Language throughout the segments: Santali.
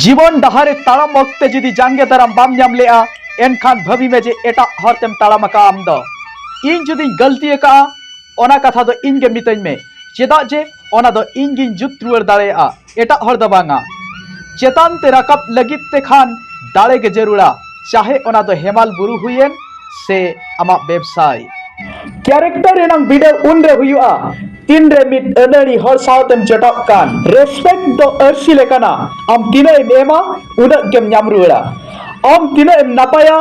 ᱡᱤᱵᱚᱱ ᱰᱟᱦᱟᱨ ᱨᱮ ᱛᱟᱲᱟᱢ ᱚᱠᱛᱮ ᱡᱩᱫᱤ ᱡᱟᱸᱜᱮ ᱫᱟᱨᱟᱢ ᱵᱟᱢ ᱧᱟᱢ ᱞᱮᱜᱼᱟ ᱮᱱᱠᱷᱟᱱ ᱵᱷᱟᱹᱵᱤ ᱢᱮ ᱡᱮ ᱮᱴᱟᱜ ᱦᱚᱨ ᱛᱮᱢ ᱛᱟᱲᱟᱢ ᱟᱠᱟᱫᱼᱟ ᱟᱢ ᱫᱚ ᱤᱧ ᱡᱩᱫᱤᱧ ᱜᱟᱹᱞᱛᱤ ᱟᱠᱟᱫᱼᱟ ᱚᱱᱟ ᱠᱟᱛᱷᱟ ᱫᱚ ᱤᱧ ᱜᱮ ᱢᱤᱛᱟᱹᱧ ᱢᱮ ᱪᱮᱫᱟᱜ ᱡᱮ ᱚᱱᱟ ᱫᱚ ᱤᱧ ᱜᱤᱧ ᱡᱩᱛ ᱨᱩᱣᱟᱹᱲ ᱫᱟᱲᱮᱭᱟᱜᱼᱟ ᱮᱴᱟᱜ ᱦᱚᱲ ᱫᱚ ᱵᱟᱝᱟ ᱪᱮᱛᱟᱱ ᱛᱮ ᱨᱟᱠᱟᱵ ᱞᱟᱹᱜᱤᱫ ᱛᱮ ᱠᱷᱟᱱ ᱫᱟᱲᱮ ᱜᱮ ᱡᱟᱹᱨᱩᱲᱟ ᱪᱟᱦᱮ ᱚᱱᱟ ᱫᱚ ᱦᱮᱢᱟᱞ ᱵᱩᱨᱩ ᱦᱩᱭᱮᱱ ᱥᱮ ᱟᱢᱟᱜ ᱵᱮᱵᱽᱥᱟᱭ ᱠᱮᱨᱮᱠᱴᱟᱨ ᱨᱮᱱᱟᱝ ᱵᱤᱰᱟᱹᱣ ᱩᱱ ᱨᱮ ᱦᱩᱭᱩᱜᱼᱟ ᱛᱤᱱ ᱨᱮ ᱢᱤᱫ ᱟᱹᱱᱟᱹᱲᱤ ᱦᱚᱲ ᱥᱟᱶᱛᱮᱢ ᱡᱚᱴᱟᱜ ᱠᱟᱱ ᱨᱮᱥᱯᱮᱠᱴ ᱫᱚ ᱟᱹᱨᱥᱤ ᱞᱮᱠᱟᱱᱟ ᱟᱢ ᱛᱤᱱᱟᱹᱜ ᱮᱢ ᱮᱢᱟ ᱩᱱᱟᱹᱜ ᱜᱮᱢ ᱧᱟᱢ ᱨᱩᱣᱟᱹᱲᱟ ᱟᱢ ᱛᱤᱱᱟᱹᱜ ᱮᱢ ᱱᱟᱯᱟᱭᱟ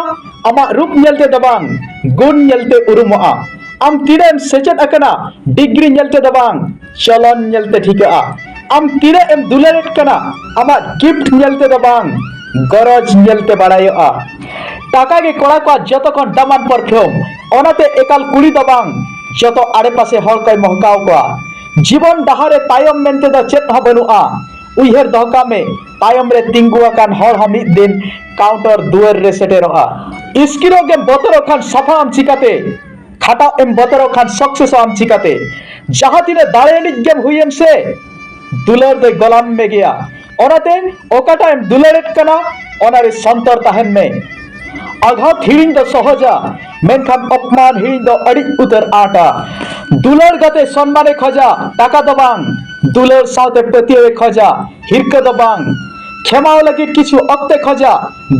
ᱟᱢᱟᱜ ᱨᱩᱯ ᱧᱮᱞ ᱛᱮ ᱫᱚ ᱵᱟᱝ ᱜᱩᱱ ᱧᱮᱞ ᱛᱮ ᱩᱨᱩᱢᱚᱜᱼᱟ ᱟᱢ ᱛᱤᱱᱟᱹᱜ ᱮᱢ ᱥᱮᱪᱮᱫ ᱟᱠᱟᱱᱟ ᱰᱤᱜᱽᱨᱤ ᱧᱮᱞ ᱛᱮ ᱫᱚ ᱵᱟᱝ ᱪᱚᱞᱚᱱ ᱧᱮᱞᱛᱮ ᱴᱷᱤᱠᱟᱹᱜᱼᱟ ᱟᱢ ᱛᱤᱱᱟᱹᱜ ᱮᱢ ᱫᱩᱞᱟᱹᱲᱮᱫ ᱠᱟᱱᱟ ᱟᱢᱟᱜ ᱜᱤᱯᱷᱴ ᱧᱮᱞᱛᱮ ᱫᱚ ᱵᱟᱝ ᱜᱚᱨᱚᱡᱽ ᱧᱮᱞᱛᱮ ᱵᱟᱲᱟᱭᱚᱜᱼᱟ ᱴᱟᱠᱟ ᱜᱮ ᱠᱚᱲᱟ ᱠᱚᱣᱟᱜ ᱡᱚᱛᱚ ᱠᱷᱚᱱ ᱫᱟᱢᱟᱱ ᱯᱟᱨᱯᱷᱤᱭᱩᱢ ᱚᱱᱟᱛᱮ ᱮᱠᱟᱞ ᱠᱩᱲᱤ ᱫᱚ ᱵᱟᱝ ᱡᱚᱛᱚ ᱟᱲᱮᱯᱟᱥᱮ ᱦᱚᱲ ᱠᱚᱭ ᱢᱚᱦᱠᱟᱣ ᱠᱚᱣᱟ ᱡᱤᱵᱚᱱ ᱰᱟᱦᱟᱨ ᱨᱮ ᱛᱟᱭᱚᱢ ᱢᱮᱱᱛᱮ ᱫᱚ ᱪᱮᱫ ᱦᱚᱸ ᱵᱟᱹᱱᱩᱜᱼᱟ ᱩᱭᱦᱟᱹᱨ ᱫᱚᱦᱚ ᱠᱟᱜ ᱢᱮ ᱛᱟᱭᱚᱢ ᱨᱮ ᱛᱤᱸᱜᱩ ᱟᱠᱟᱱ ᱦᱚᱲ ᱦᱚᱸ ᱢᱤᱫ ᱫᱤᱱ ᱠᱟᱣᱩᱱᱴᱟᱨ ᱫᱩᱣᱟᱹᱨ ᱨᱮ ᱥᱮᱴᱮᱨᱚᱜᱼᱟ ᱤᱥᱠᱤᱨᱚᱜ ᱜᱮᱢ ᱵᱚᱛᱚᱨᱚᱜ ᱠᱷᱟᱱ ᱥᱟᱯᱷᱟᱜ ᱟᱢ ᱪᱤᱠᱟᱹᱛᱮ ᱠᱷᱟᱴᱟᱣ ᱮᱢ ᱵᱚᱛᱚᱨᱚᱜ ᱠᱷᱟᱱ ᱥᱚᱠᱥᱮᱥ ᱟᱢ ᱪᱤᱠᱟᱛᱮ ᱡᱟᱦᱟᱸ ᱛᱤᱱᱟᱹᱜ ᱫᱟᱲᱮ ᱟᱹᱱᱤᱡ ᱜᱮᱢ ᱦᱩᱭᱮᱱ ᱥᱮ ᱫᱩᱞᱟᱹᱲ ᱫᱚᱭ ᱜᱚᱞᱟᱢ ᱢᱮ ᱜᱮᱭᱟ ᱚᱱᱟᱛᱮ ᱚᱠᱟᱴᱟᱜ ᱮᱢ ᱫᱩᱞᱟᱹᱲᱮᱫ ᱠᱟᱱᱟ ᱚᱱᱟᱨᱮ ᱥᱚᱱᱛᱚᱨ ᱛᱟᱦᱮᱱ ᱢᱮ ᱟᱜᱷᱟᱛ ᱦᱤᱲᱤᱧ ᱫᱚ ᱥᱚᱦᱚᱡᱟ ᱢᱮᱱᱠᱷᱟᱱ ᱚᱯᱢᱟᱱ ᱦᱤᱲᱤᱧ ᱫᱚ ᱟᱹᱰᱤ ᱩᱛᱟᱹᱨ ᱟᱸᱴᱟ ᱫᱩᱞᱟᱹᱲ ᱜᱟᱛᱮ ᱥᱚᱱᱢᱟᱱᱮ ᱠᱷᱚᱡᱟ ᱴᱟᱠᱟ ᱫᱚ ᱵᱟᱝ ᱫᱩᱞᱟᱹᱲ ᱥᱟᱶᱛᱮ ᱯᱟᱹᱛᱭᱟᱹᱣᱮ ᱠᱷᱚᱡᱟ ᱦᱤᱨᱠᱟᱹ ᱫᱚ ᱵᱟᱝ ᱠᱷᱮᱢᱟᱣ ᱞᱟᱹᱜᱤᱫ ᱠᱤᱪᱷᱩ ᱚᱠᱛᱮ ᱠᱷᱚᱡᱟ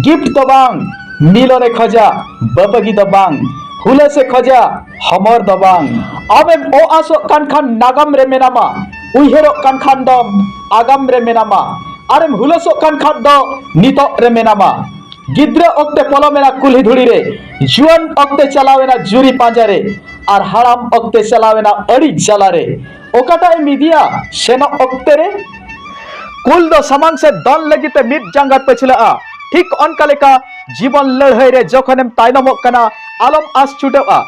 ᱜᱤᱯᱷᱴ ᱫᱚ ᱵᱟᱝ ᱢᱤᱞᱚᱱᱮ ᱠᱷᱚᱡᱟ ᱵᱟᱯᱟᱜᱤ ᱫᱚ ᱵᱟᱝ ᱦᱩᱞᱟᱹᱥᱮ ᱠᱷᱚᱡᱟ ᱦᱚᱢᱚᱨ ᱫᱚ ᱵᱟᱝ ᱟᱢᱮᱢ ᱚ ᱟᱥᱚᱜ ᱠᱟᱱ ᱠᱷᱟᱱ ᱱᱟᱜᱟᱢ ᱨᱮ ᱢᱮᱱᱟᱢᱟ ᱩᱭᱦᱟᱹᱨᱚᱜ ᱠᱟᱱ ᱠᱷᱟᱱ ᱫᱚᱢ ᱟᱜᱟᱢ ᱨᱮ ᱢᱮᱱᱟᱢᱟ ᱟᱨᱮᱢ ᱦᱩᱞᱟᱹᱥᱚᱜ ᱠᱟᱱ ᱠᱷᱟᱱ ᱫᱚ ᱱᱤᱛᱚᱜ ᱨᱮ ᱢᱮᱱᱟᱢᱟ ᱜᱤᱫᱽᱨᱟᱹ ᱚᱠᱛᱮ ᱯᱚᱞᱚᱢᱮᱱᱟ ᱠᱩᱞᱦᱤ ᱫᱷᱩᱲᱤ ᱨᱮ ᱡᱩᱣᱟᱹᱱ ᱚᱠᱛᱮ ᱪᱟᱞᱟᱣᱮᱱᱟ ᱡᱩᱨᱤ ᱯᱟᱸᱡᱟ ᱨᱮ ᱟᱨ ᱦᱟᱲᱟᱢ ᱚᱠᱛᱮ ᱪᱟᱞᱟᱣᱮᱱᱟ ᱟᱹᱲᱤᱡ ᱡᱟᱞᱟ ᱨᱮ ᱚᱠᱟᱴᱟᱜ ᱮᱢ ᱤᱫᱤᱭᱟ ᱥᱮᱱᱚᱜ ᱚᱠᱛᱮ ᱨᱮ ᱠᱩᱞ ᱫᱚ ᱥᱟᱢᱟᱝ ᱥᱮ ᱫᱚᱱ ᱞᱟᱹᱜᱤᱫ ᱛᱮ ᱢᱤᱫ ᱡᱟᱸᱜᱟ ᱯᱟᱹᱪᱷᱞᱟᱹᱜᱼᱟ ᱴᱷᱤᱠ ᱚᱱᱠᱟ ᱞᱮᱠᱟ ᱡᱤᱵᱚᱱ ᱞᱟᱹᱲᱦᱟᱹᱭ ᱨᱮ ᱡᱚᱠᱷᱚᱱᱮᱢ ᱛᱟᱭᱱᱚᱢᱚᱜ ᱠᱟᱱᱟ ᱟᱞᱚᱢ ᱟᱥ ᱪᱷᱩᱴᱟᱹᱜᱼᱟ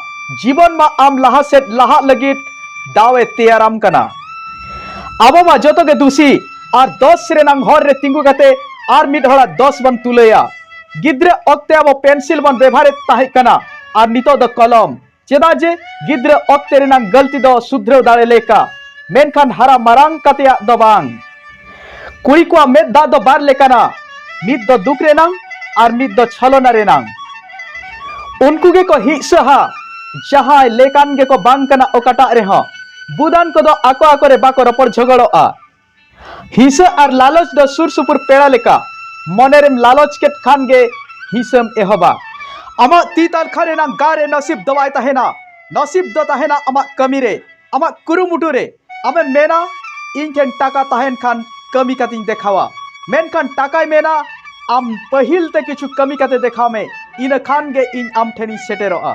ᱡᱤᱵᱚᱱ ᱢᱟ ᱟᱢ ᱞᱟᱦᱟ ᱥᱮᱫ ᱞᱟᱦᱟᱜ ᱞᱟᱹᱜᱤᱫ ᱫᱟᱣ ᱮ ᱛᱮᱭᱟᱨᱟᱢ ᱠᱟᱱᱟ ᱟᱵᱚ ᱢᱟ ᱡᱚᱛᱚ ᱜᱮ ᱫᱩᱥᱤ ᱟᱨ ᱫᱚᱥ ᱨᱮᱱᱟᱝ ᱦᱚᱨ ᱨᱮ ᱛᱤᱸᱜᱩ ᱠᱟᱛᱮ ᱟᱨ ᱢᱤᱫ ᱦᱚᱲᱟᱜ ᱫᱚᱥ ᱵᱚᱱ ᱛᱩᱞᱟᱹᱭᱟ ᱜᱤᱫᱽᱨᱟᱹ ᱚᱠᱛᱮ ᱟᱵᱚ ᱯᱮᱱᱥᱤᱞ ᱵᱚᱱ ᱵᱮᱵᱷᱟᱨᱮᱫ ᱛᱟᱦᱮᱸ ᱠᱟᱱᱟ ᱟᱨ ᱱᱤᱛᱚᱜ ᱫᱚ ᱠᱚᱞᱚᱢ ᱪᱮᱫᱟᱜ ᱡᱮ ᱜᱤᱫᱽᱨᱟᱹ ᱚᱠᱛᱮ ᱨᱮᱱᱟᱜ ᱜᱟᱹᱞᱛᱤ ᱫᱚ ᱥᱩᱫᱷᱨᱟᱹᱣ ᱫᱟᱲᱮ ᱞᱮᱠᱟ ᱢᱮᱱᱠᱷᱟᱱ ᱦᱟᱨᱟ ᱢᱟᱨᱟᱝ ᱠᱟᱛᱮᱭᱟᱜ ᱫᱚ ᱵᱟᱝ ᱠᱩᱲᱤ ᱠᱚᱣᱟᱜ ᱢᱮᱫ ᱫᱟᱜ ᱫᱚ ᱵᱟᱨ ᱞᱮᱠᱟᱱᱟ ᱢᱤᱫ ᱫᱚ ᱫᱩᱠ ᱨᱮᱱᱟᱜ ᱟᱨ ᱢᱤᱫ ᱫᱚ ᱪᱷᱚᱞᱚᱱᱟ ᱨᱮᱱᱟᱜ ᱩᱱᱠᱩ ᱜᱮᱠᱚ ᱦᱤᱸᱥᱟᱹᱦᱟ ᱡᱟᱦᱟᱸᱭ ᱞᱮᱠᱟᱱ ᱜᱮᱠᱚ ᱵᱟᱝ ᱠᱟᱱᱟ ᱚᱠᱟᱴᱟᱜ ᱨᱮᱦᱚᱸ ᱵᱩᱫᱟᱱ ᱠᱚᱫᱚ ᱟᱠᱚ ᱟᱠᱚᱨᱮ ᱵᱟᱠᱚ ᱨᱚᱯᱚᱲ ᱡᱷᱚᱜᱚᱲᱚᱜᱼᱟ ᱦᱤᱥᱟᱹ ᱟᱨ ᱞᱟᱞᱚᱪ ᱫᱚ ᱥᱩᱨ ᱥᱩᱯᱩᱨ ᱯᱮᱲᱟ ᱞᱮᱠᱟ ᱢᱚᱱᱮ ᱨᱮᱢ ᱞᱟᱞᱚᱪ ᱠᱮᱫ ᱠᱷᱟᱱ ᱜᱮ ᱦᱤᱥᱟᱹᱢ ᱮᱦᱚᱵᱟ ᱟᱢᱟᱜ ᱛᱤ ᱛᱟᱞᱠᱷᱟ ᱨᱮᱱᱟᱜ ᱜᱟ ᱨᱮ ᱱᱟᱥᱤᱵ ᱫᱚ ᱵᱟᱭ ᱛᱟᱦᱮᱱᱟ ᱱᱟᱥᱤᱵ ᱫᱚ ᱛᱟᱦᱮᱱᱟ ᱟᱢᱟᱜ ᱠᱟᱹᱢᱤ ᱨᱮ ᱟᱢᱟᱜ ᱠᱩᱨᱩᱢᱩᱴᱩ ᱨᱮ ᱟᱢᱮᱢ ᱢᱮᱱᱟ ᱤᱧ ᱴᱷᱮᱱ ᱴᱟᱠᱟ ᱛᱟᱦᱮᱱ ᱠᱷᱟᱱ ᱠᱟᱹᱢᱤ ᱠᱟᱛᱮᱧ ᱫᱮᱠᱷᱟᱣᱟ ᱢᱮᱱᱠᱷᱟᱱ ᱴᱟᱠᱟᱭ ᱢᱮᱱᱟ ᱟᱢ ᱯᱟᱹᱦᱤᱞ ᱛᱮ ᱠᱤᱪᱷᱩ ᱠᱟᱹᱢᱤ ᱠᱟᱛᱮ ᱫᱮᱠᱷᱟᱣ ᱢᱮ ᱤᱱᱟᱹ ᱠᱷᱟᱱ ᱜᱮ ᱤᱧ ᱟᱢ ᱴᱷᱮᱱᱤᱧ ᱥᱮᱴᱮᱨᱚᱜᱼᱟ